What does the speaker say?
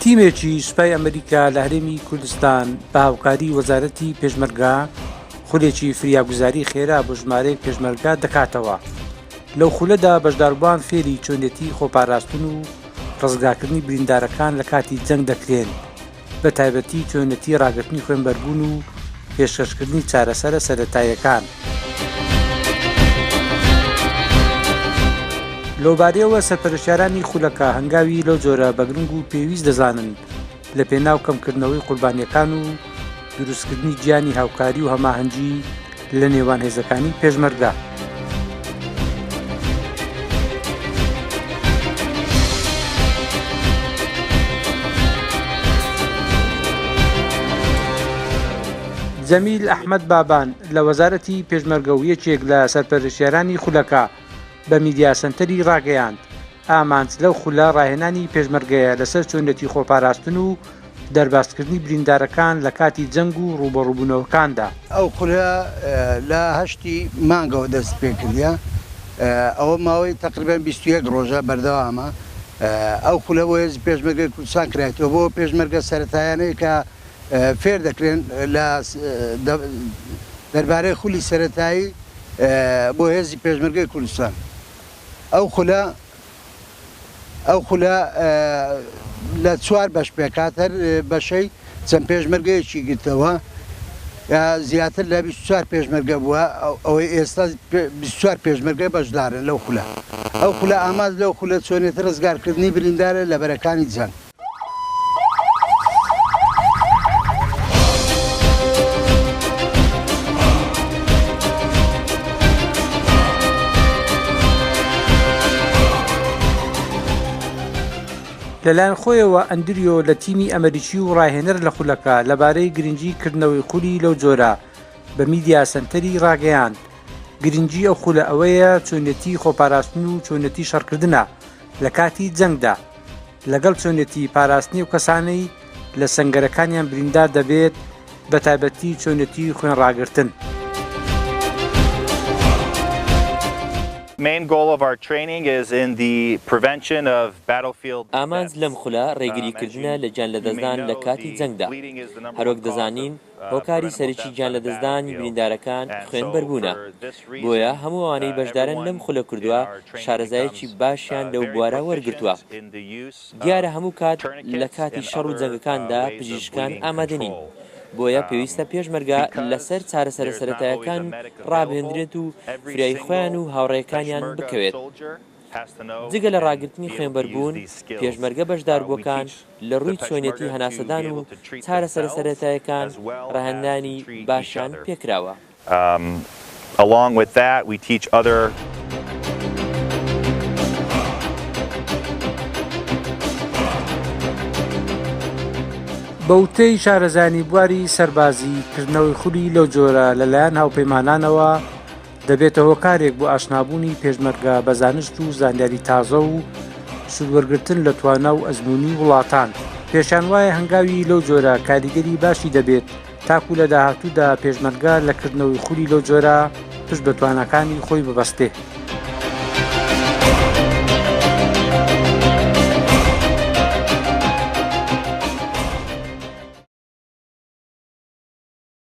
تیمێکی سوپای ئەمریکا لە هەرێمی کوردستان بە هاوکاری وەزارەتی پێشمەرگا خولێکی فریاگوزاری خێرا بۆ ژمارەیەک پێشمەرگا دەکاتەوە لەو خولەدا بەشداربان فێری چۆنێتی خۆپاراستن و ڕزگاکردنی بریندارەکان لە کاتی جەنگ دەکرێن بە تایبەتی چۆنەتی ڕاگررتنی خوێنبەربوون و پێشکەشکردنی چارەسەرە سەتاییەکان. لەوبارەیەوە سەرپەرشارانی خولەکە هەنگاوی لەو جۆرە بەگرنگ و پێویست دەزانن لە پێناو کەمکردنەوەی قوربانیەکان و دروستکردنی گیانی هاوکاری و هەماهەنگی لە نێوان هێزەکانی پێشمەرگدا. جەمیل ئەحمد بابان لە وەزارەتی پێشمەرگە و یەکێک لە سەرپەرشێرانی خولەکە بە میدیاسەنتەری ڕاگەیاند ئامانج لەو خولە ڕاهێنانی پێشمەرگەیە لەسەر چۆنیەتی خۆپاراستن و دەربازکردنی بریندارەکان لە کاتی جەنگ و ڕووبەڕووبوونەوەکاندا. ئەو خولە لە هەشتی مانگەوە دەستیپێکردە، ئەوە ماوەی تەقریبەن بیست و یەک ڕۆژە بەردەوامە. ئەو خولە بۆ هێزی پێشمەرگەی کوردستان کرایتەوە، بۆ پێشمەرگە سەرەتایانەی کە فێر دەکرێن لە دەربارەی خولی سەرەتایی بۆ هێزی پێشمەرگەی کوردستان. ئەو خولە ئەو خولە لە چوار بەش پێکات هەر بەشەی چەند پێشمەرگەیەکی گرتەوە زیاتر لە 24 پێشمەرگە بووە ئەوەی ئێستا 24 پێشمەرگە بەشدارن لەو خولە ئەو خولە ئاماز لەو خولە چۆنێتی ڕزگارکردنی بریندارە لە بەرەکانی جەنگ لەلایەن خۆیەوە ئەندریۆ لە تیمی ئەمریکی و ڕاهێنەر لە خولەکە لەبارەی گرنگی کردنەوەی خولی لەو جۆرە بە میدیا سنتەری ڕاگەیاند گرنگی ئەو خولە ئەوەیە چۆنێتی خۆپاراستن و چۆنێتی شەڕکردە لە کاتی جەنگدا لەگەڵ چۆنێتی پاراستنی ئەو کەسانەی لە سەنگەرەکانیان بریندار دەبێت، بە تایبەتی چۆنێتی خوێن ڕاگرتن. ئامانج لەم خولە ڕێگریکردنە لە گیانلەدەستدان لە کاتی جەنگدا. هەروەک دەزانین هۆکاری سەرەکی گیان لەدەستدانی بریندارەکان خوێنبەربوونە، بۆیە هەموو ئەوانەی بەشدارن لەم خولە کوردوە شارەزایەکی باشیان لەو بوارە وەرگرتووە. دیارە هەموو کات لە کاتی شەڕ و جەنگەکاندا پزیشکان ئامادە نین، بۆیە پێویستە پێشمەرگە لەسەر چارەسەرە سەرەتایەکان ڕابهێندرێت و فرای خۆیان و هاوڕێکانیان بکەوێت. جگە لە ڕاگرتنی خوێنبەربوون، پێشمەرگە بەشداربووەکان لە ڕووی چۆنێتی هەناسەدان و چارەسەرە سەرەتایەکان ڕەهەندنانی باشیان پێکراوە. بە وتەی شارەزایانی بواری سەربازی، کردنەوەی خولی لەو جۆرە لەلایەن هاوپەیمانانەوە دەبێتە هۆکارێک بۆ ئاشنابوونی پێشمەرگە بە زانست و زانیاری تازە و سوودوەرگتن لە توانا و ئەزمموی وڵاتان پێشان وایە هەنگاوی لەو جۆرە کاریگەری باشی دەبێت تاکو لە داهاتوودا پێشمەرگە لە کردنەوەی خولی لەو جۆرە پشت بە توانەکانی خۆی ببەستێ.